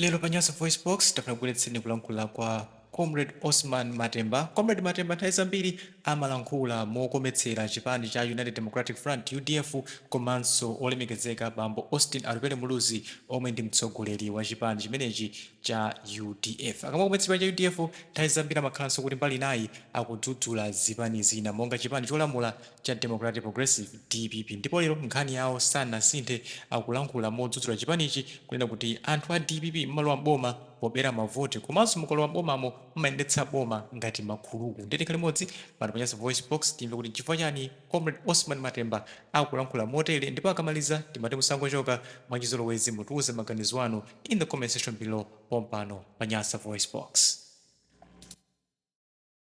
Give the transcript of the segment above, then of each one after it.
Lero pa Nyasa VoiceBox, tafuna tikubweretsereni kulankhula kwa Comrade Osman Matemba. Comrade Matemba nthawi zambiri amalankhula mokometsera chipani cha United Democratic Front, udf, komanso Olemekezeka Bambo Austin Atupele Muluzi omwe ndi mtsogoleri wa chipani chimenechi cha udf. Akamakometsa chipani cha udf, nthawi zambiri amakhalanso kuti mbali inayi akudzudzula zipani zina monga chipani cholamula, cha Democratic Progressive, dpp, ndipo lero nkhani yawo sanasinthe akulankhula modzudzula chipanichi kunena kuti anthu a dpp mumalowa m'boma pobera mavoti komanso mukalowa m'bomamo mumayendetsa boma ngati makhuluku ndiye tikhale limodzi pano pa Nyasa VoiceBox timve kuti nchifukwa chani Comrade Osman Matemba akulankhula motere ndipo akamaliza timati musangochoka mwachizolowezi mutiuze maganizo anu in the comment section below pompano pa Nyasa VoiceBox.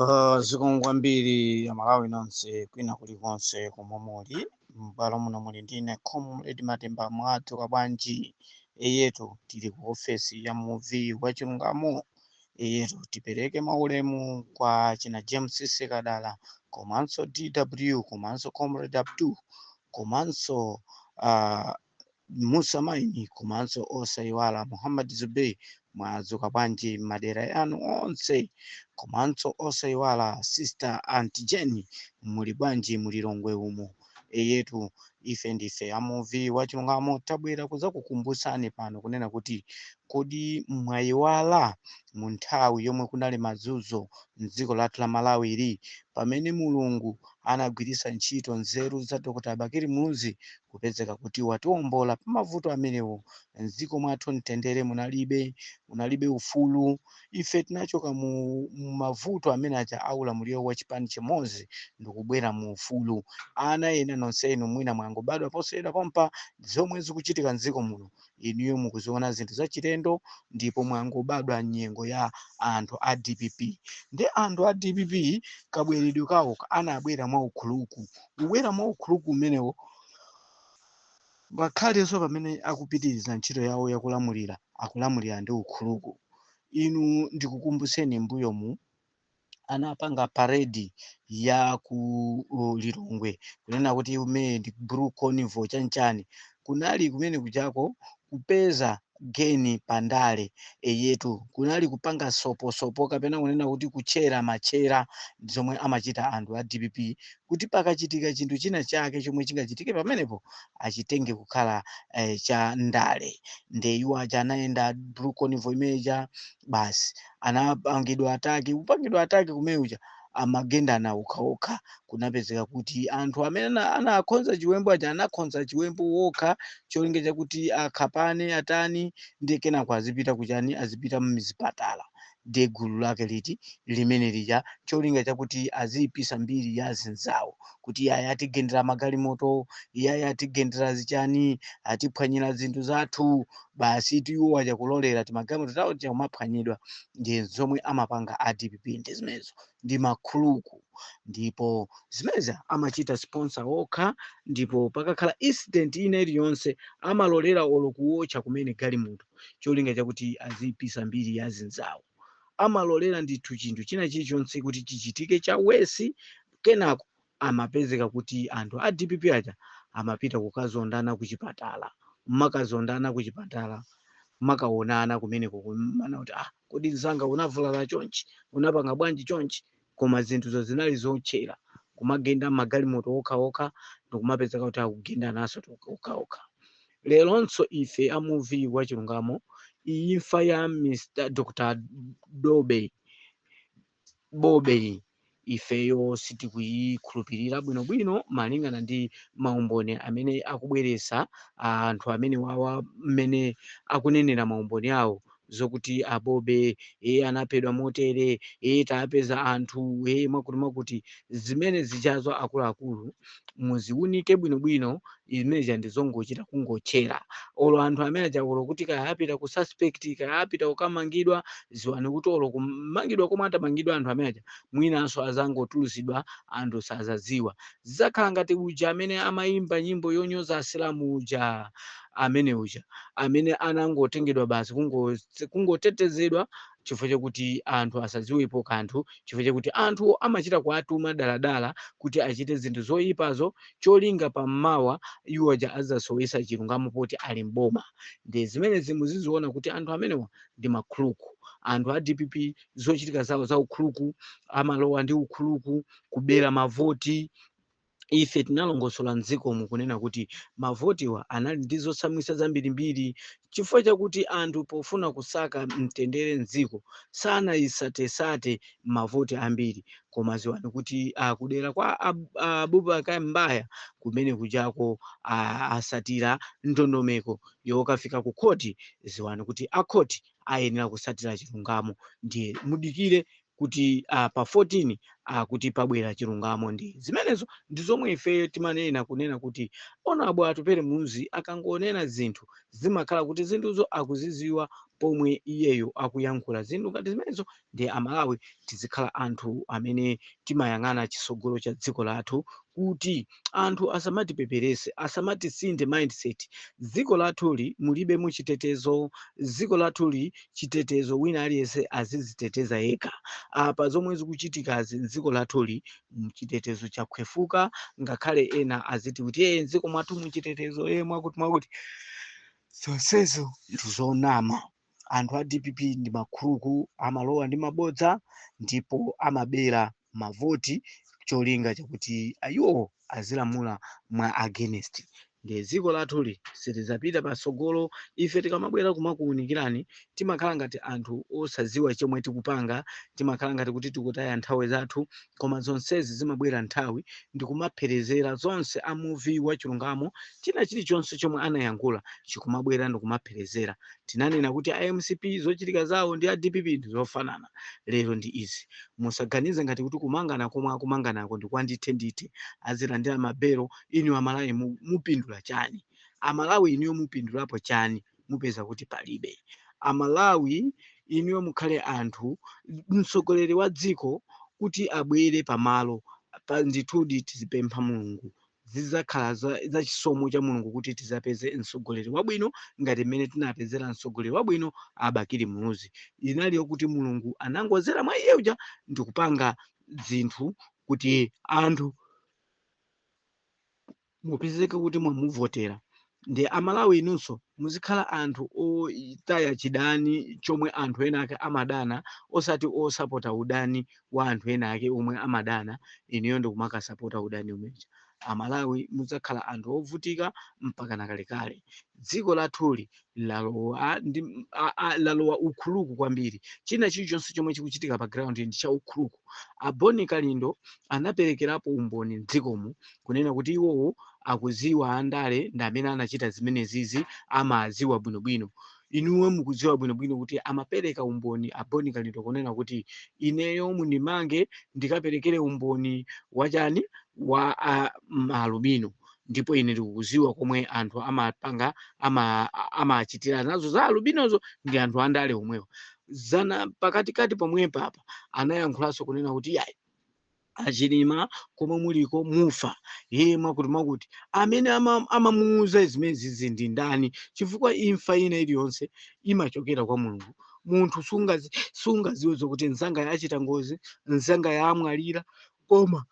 Uh, zikomo kwambiri amalawi nonse kwina kulikonse komwe muli m'bwalo muno muli ndine comrade matemba mwadzuka bwanji eyetu tili ku ofesi ya muvi wa chilungamo eyetu tipereke maulemu kwa china james sekadala komanso dw komanso comrade abdu komanso uh, musa maini komanso osayiwala muhammad zubey mwadzuka bwanji madera yanu onse komanso osayiwala sister aunt jenny muli bwanji mu Lilongwe umo eyetu ife ndife amuvi wachilungamo tabwera kuzakukumbusani pano kunena kuti kodi mwayiwala mu nthawi yomwe kunali mazuzo mdziko lathu la malawi ili pamene mulungu anagwiritsa ntchito nzeru za Dr Bakili Muluzi kupezeka kuti watiwombola pamavuto amenewo, mdziko mwathu mtendere munalibe, munalibe ufulu, ife tinachoka mu mavuto amene aja a ulamuliro wa chipani chimodzi ndikubwera mu ufulu, ana ena nonsenu mwina mwangobadwa posachedwa pompa, zomwe zikuchitika mdziko muno inuyo mukuziona zinthu zachilendo ndipo mwangobadwa nyengo ya anthu a dpp ndi anthu a dpp kabweredwe kawo anabwera mwa ukhuluku kubwera mwa ukhuluku umenewo ngakhalenso pamene akupitiriza ntchito yawo yakulamulira akulamulira ndi ukhuluku inu ndikukumbutseni mbuyomu anapanga paredi ya ku uh, Lilongwe kunena kuti imene ndi blue carnival chanchani kunali kumene kujako kupeza geni pandale eyetu kunali kupanga soposopo kapena kunena kuti kutchera matchera zomwe amachita anthu a dpp kuti pakachitika chinthu china chake chomwe chingachitike pamenepo achitenge kukhala eh, cha ndale nde iwo aja anayenda blue carnival imeja basi anapangidwa ataki kupangidwa ataki kumene uja amagendana okhaokha kunapezeka kuti anthu amene ana- anakhonza chiwembu aja anakhonza chiwembu okha cholinga chakuti akhapane atani ndi kenako azipita kuchani azipita mzipatala nde gulu lake liti limene lija cholinga chakuti aziyipisa mbiri ya zinzawo kuti yaya atigendera magalimoto yaya atigendera zichani atiphwanyira zinthu zathu basitu iwo aja kulolera timagalimoto tawo tija kumaphwanyidwa ndi zomwe amapanga a dpp ndi zimenezo ndi makhuluku ndipo zimenezi amachita sponsor okha ndipo pakakhala incident ina iliyonse amalolera olo kuwotcha kumene galimoto cholinga chakuti azipisa mbiri ya zinzawo amalolera ndithu chinthu china chilichonse kuti chichitike cha wesi kenako amapezeka kuti anthu a dpp aja amapita kukazondana kuchipatala nkumakazondana kuchipatala nkumakaonana kumeneko kumanena kuti ah kodi mzanga unavulala chonchi unapanga bwanji chonchi koma zinthuzo zinali zotchera kumagenda magalimoto okhaokha ndikumapezeka kuti akugendananso okhaokha leronso ife a muvi wa chilungamo imfa ya mr dr bobe bobeyi ifeyo sitikuyikhulupirira bwinobwino malingana ndi maumboni amene akubweresa anthu amene wawa mmene akunenera maumboni awo zokuti a bobe e anaphedwa motere e tapeza anthu e mwakuti mwakuti zimene zijazo akuluakulu muziwunike bwinobwino Zimene zija ndi zongochita kungotchera. Olo anthu amene aja olo kuti kaya apita ku suspect, kaya apita kukamangidwa, dziwani kuti olo kumangidwa komwe atamangidwe anthu amene aja, mwinanso adzangotulutsidwa anthu sadzadziwa. Zidzakhala ngati uja amene amaimba nyimbo yonyoza Asilamu uja, amene uja, amene anangotengedwa basi kungo, kungotetezedwa chifukwa chakuti anthu asadziwepo kanthu, chifukwa chakuti anthu amachita kuwatuma daladala kuti achite zinthu zoipazo cholinga pa mmawa iwo aja azasowesa chilungamo poti ali mboma nde zimenezi muziziona kuti anthu amenewa ndi makhuluku anthu a dpp zochitika zawo za ukhuluku amalowa ndi ukhuluku kubera mavoti ife tinalongosola mdzikomu kunena kuti mavotiwa anali ndi zotsamwisa zambirimbiri Chifukwa chakuti anthu pofuna kusaka mtendere m'dziko sanayisatesate mavoti ambiri koma ziwani kuti a kudera kwa a Abubakar M'baya kumene kujako a asatira ndondomeko yokafika ku khoti ziwani kuti a khoti ayenera kusatira chilungamo ndiye mudikire kuti ah, pa 14 ah, kuti pabwera chilungamo ndi zimenezo ndi zomwe ifeyo timanena kunena kuti onabo atupele muluzi akangonena zinthu zimakhala kuti zinthuzo akuziziwa pomwe iyeyo akuyankhula zinthu ngati zimenezo ndiye amalawi tizikhala anthu amene timayang'ana chisogolo cha dziko lathu kuti anthu asamatipeperese asamatisinthe mindset dziko lathuli mulibe muchitetezo dziko lathuli chitetezo wina aliyense aziziteteza yekha apa zomwe zikuchitikazi mdziko lathuli mchitetezo chakhwefuka ngakhale ena aziti kuti ee mdziko mwathu muchitetezo ee mwakuti mwakuti zonsezo ndizonama anthu a dpp ndi makhuruku amalowa ndi mabodza ndipo amabera mavoti cholinga chakuti iwo azilamula mwa against ndiye dziko lathuli silidzapita patsogolo ife tikamabwera kumakuwunikirani timakhala ngati anthu osadziwa chomwe tikupanga timakhala ngati kuti tikutaya nthawi zathu Koma zonsezi zimabwera nthawi ndi kumapherezera zonse a muvi wa chilungamo china chilichonse chomwe anayankhula chikumabwera ndi kumapherezera. Tinanena kuti mcp zochitika zawo ndi a dpp ndi zofanana. Lero ndi izi. Musaganize ngati kuti kumangana komwe akumanganako ndi kwa ndithe ndithe. Azilandira ma belo. Inu a Malawi mupindula chani? A Malawi inuyo mupindulapo chani? mupeza kuti palibe. A Malawi inuyo mukhale anthu, mtsogoleri wa dziko kuti abwere pa malopa, ndithudi tizipempha Mulungu. Zidzakhala za, za chisomo cha Mulungu kuti tidzapeze mtsogoleri wabwino ngati mmene tinapezera mtsogoleri wabwino a Bakili Muluzi. Inali yokuti Mulungu anangodzera mwa iye uja ndikupanga zinthu kuti anthu mupezeke kuti mwamuvotera nde a Malawi inunso muzikhala anthu otaya chidani chomwe anthu ena ake amadana osati osapota udani wa anthu ena ake omwe amadana inuyo ndikumakasapota udani omwe uja. A Malawi mudzakhala anthu ovutika mpakana kalekale. Dziko lathuli lalowa ndi a, a, lalowa ukhuruku kwambiri china chilichonse chomwe chikuchitika pa ground ndi cha ukhuruku a boni kalindo anaperekerapo umboni mdzikomu kunena kuti iwowo akuziwa andale ndi amene anachita zimenezizi amaziwa bwinobwino inuwe mukudziwa bwinobwino kuti amapereka umboni a boni kalindo kunena kuti ineyo mundimange ndikaperekere umboni wachani wa a, mm, alubino ndipo ine ndikuziwa komwe anthu amapanga ama amachitira nazo za alubinozo ndi anthu andale omwewo zana pakatikati pomwepa apa anayankhulanso kunena kuti yayi achilima komwe muliko mufa iye mwakuti mwakuti amene ama- amamuuza zimenezizi ndi ndani chifukwa imfa ina iliyonse imachokera kwa mulungu munthu sungazi- sungaziwe zokuti nzanga yachita ngozi nzanga yamwalira koma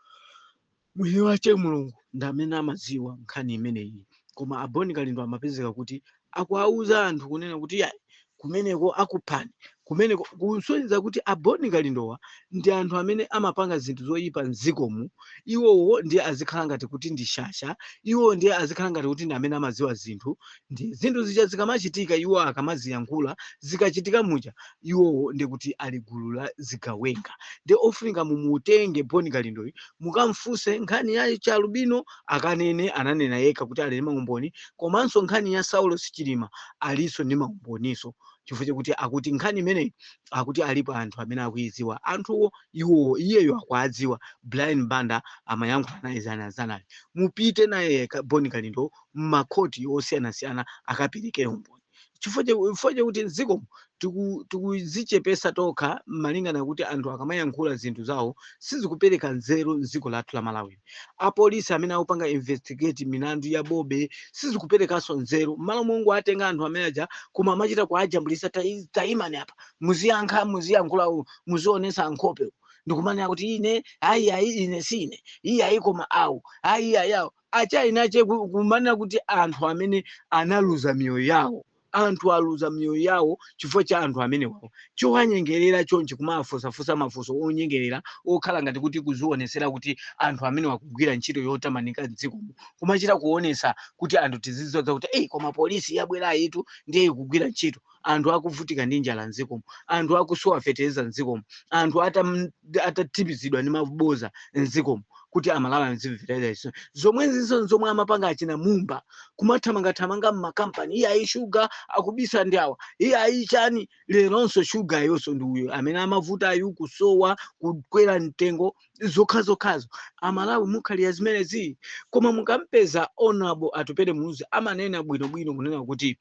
mwini wache mulungu ndi amene amadziwa nkhani imeneyi koma aboni kalindo amapezeka kuti akuwauza anthu kunena kuti yayi kumeneko akuphani kumeneko kusonyeza kuti aboni kalindowa ndi anthu amene amapanga zinthu zoyipa mdzikomu iwowo ndiye azikhala ngati kuti ndi shasha iwowo ndiye azikhala ngati kuti ndi amene amadziwa zinthu Ndiye zinthu zija zikamachitika, iwo akamaziyankhula, zikachitika muja, iwowo ndiye kuti ali gulu la zigawenga. Ndiye ofunika mumutenge Boni Kalindoyu mukamfunse nkhani ya chialubino akanene, ananena yekha kuti ali ndi maumboni, komanso nkhani ya Saulos Chilima aliso ndi maumboniso chifukwa chakuti akuti nkhani imeneyi akuti alipo anthu amene akuidziwa anthuwo iwowo iyeyo akuadziwa brian banda amayankhula naye zanazanayo mupite naye Ka- boni kalindo m'makhoti osiyanasiyana akaperekere umboni chifukwa cha- chifukwa chakuti mdziko tiku- tikuzichepesa tokha malingana kuti anthu akamayankhula zinthu zawo sizikupereka nzeru mdziko lathu la malawi apolisi amene akupanga investigate milandu ya bobe sizikuperekanso nzeru mmalo mongowatenga anthu amene aja koma amachita kuajambulisa "Tai- taimani apa muziyankha muziyankhula, muzionesa nkhope." ndikumanena kuti ine ayi ayi ine si ine iyayi koma awu ayi ayi awo achina che ku- kumanena kuti anthu amene analuza miyoyo yawo anthu aluza miyoyo yawo chifukwa cha anthu amenewawo chowanyengerera chonchi kumafunsafunsa mafunso onyengerera okhala ngati kuti kuzionesera kuti anthu amenewa akugwira ntchito yotamanika mdzikomo kumachita kuonesa kuti anthu tiziziwa zakuti eyi koma polisi yabwerayitu ndiye ikugwira ntchito anthu akuvutika ndi njala mdzikomo anthu akusowa fetereza mdzikomo anthu atam- atatipizidwa ndi maboza mdzikomo kuti amalawi azimvera izo zomwezizo zomwe amapanga achina mumba kumathamangathamanga mmakampani iye ayi shuga akubisa ndi awa iye ayi chani leronso shugayonso ndi uyo amene amavutayu kusowa kukwera mtengo zokhazokhazo amalawi mukhalira zimenezi koma mukampeza honorable atupele muluzi amanena bwinobwino kunena kuti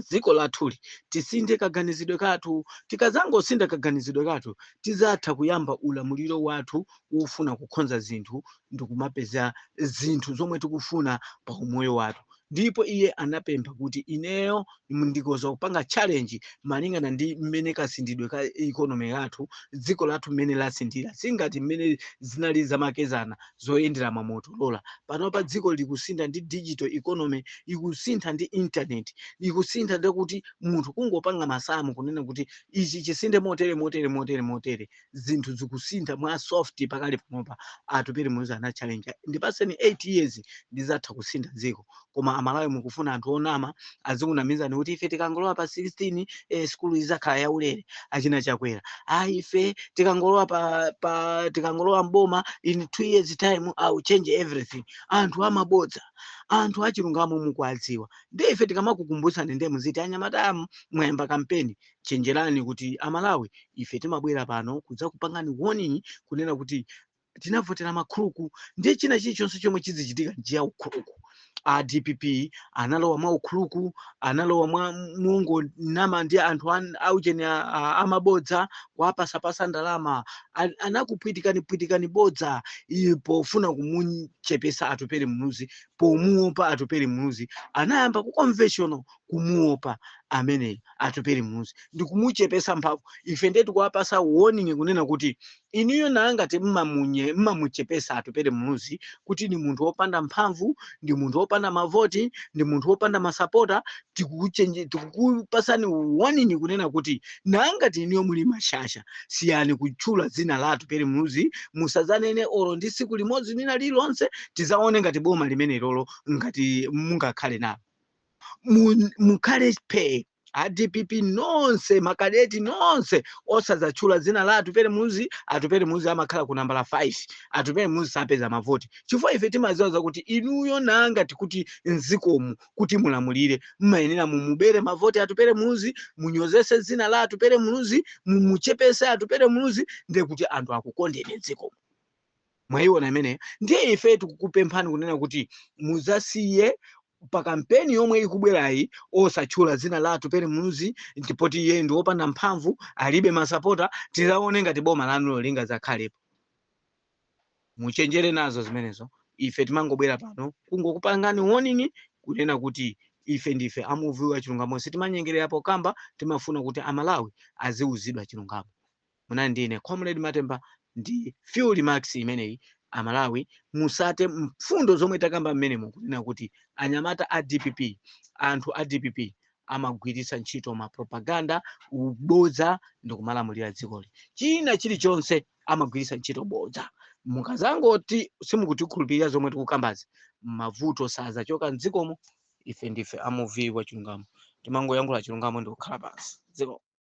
dziko lathuli tisinthe kaganizidwe kathu. Tikadzangosintha kaganizidwe kathu, tidzatha kuyamba ulamuliro wathu wofuna kukhonza zinthu ndikumapeza zinthu zomwe tikufuna pa umoyo wathu. Ndipo iye anapempha kuti ineyo ndikoza kupanga challenge malingana ndi mmene kasinthidwe ka economy yathu dziko lathu mmene lasinthira singati mmene zinali zamakezana zoyendera ma motorola panopa dziko likusintha ndi digital economy ikusintha ndi internet ikusintha ndekuti munthu kungopanga masamu kunena kuti ichi chisinthe motere motere motere motere zinthu zikusintha mwa soft pakali panopa atupele muluzi anachallenge ndipatseni 8 years ndizatha kusintha dziko koma amalawi mukufuna anthu onama azikunamizani kuti ife tikangolowa pa 16 eh, skulu izakhala yaulere achina chakwera ayi ife tikangolowa pa, pa tikangolowa mboma in two years time i will change everything anthu amabodza anthu achilungamo mukuwadziwa ndiye ife tikamakukumbutsani ndiye muziti anyamata mwayamba kampeni chenjerani kuti amalawi ife timabwera pano kudzakupangani warning kunena kuti tinavotera makhuluku ndiye china chilichonse chomwe chidzichitika ndi ya ukhuluku a dpp analowa mwa ukhuluku analowa mwa mongonama ndi anthu an- aujeni a- a- amabodza kuwapatsapatsa ndalama An- anakuphwitikani phwitikani bodza iye pofuna kumuchepetsa atupele muluzi pomuopa atupele muluzi anayamba ku conventional kumuopa amene Atupele Muluzi ndikumuchepetsa mphamvu. Ife ndiye tikuwapatsa warning kunena kuti inuyo nanga ngati mmamunye mmamuchepetsa Atupele Muluzi kuti ndi munthu wopanda mphamvu, ndi munthu wopanda mavoti, ndi munthu wopanda masapota, tikukuchenje tikukupatsani warning kunena kuti nanga ngati inuyo muli mashasha siyani kutchula dzina la Atupele Muluzi, musadzanene olo ndi tsiku limodzi lina lililonse, tidzaone ngati boma limenelolo ngati mungakhale nalo. Mu- mukhale phee a dpp nonse makadeti nonse osadzatchula dzina la atupele muluzi atupele muluzi amakhala ku nambala 5 atupele muluzi sapeza mavoti chifukwa ife timadziwa zakuti inuyo nangati kuti mdzikomu kuti mulamulire mmayenera mumubere mavoti atupele muluzi munyozetse dzina la atupele muluzi mumuchepetse atupele muluzi ndekuti anthu akukondeni mdzikomu mwayiona imeneyo ndiye ife tikukupemphani kunena kuti muzasiye pa kampeni yomwe ikubwerayi osatchula dzina la atupele muluzi poti iye ndi wopanda mphamvu alibe masapota tizaone ngati boma lanulo lingazakhalepo muchenjere nazo zimenezo ife timangobwera pano kungokupangani warning kunena kuti ife ndife a muvi wa chilungamo sitimanyengerera pokamba timafuna kuti amalawi aziwuzidwa chilungamo Munali ndi ine Comrade Matemba ndi few remarks imeneyi a Malawi mutsate mfundo zomwe takamba mmenemo kunena kuti anyamata a dpp anthu a dpp amagwiritsa ntchito ma propaganda ubodza ndikumalamulira dzikoli china chilichonse amagwiritsa ntchito bodza mukazangoti simukutikhulupirira zomwe tikukambazi mavuto sazachoka mdzikomu ife ndife a muvi wa chilungamo timangoyankhula chilungamo ndikukhala pansi zikomo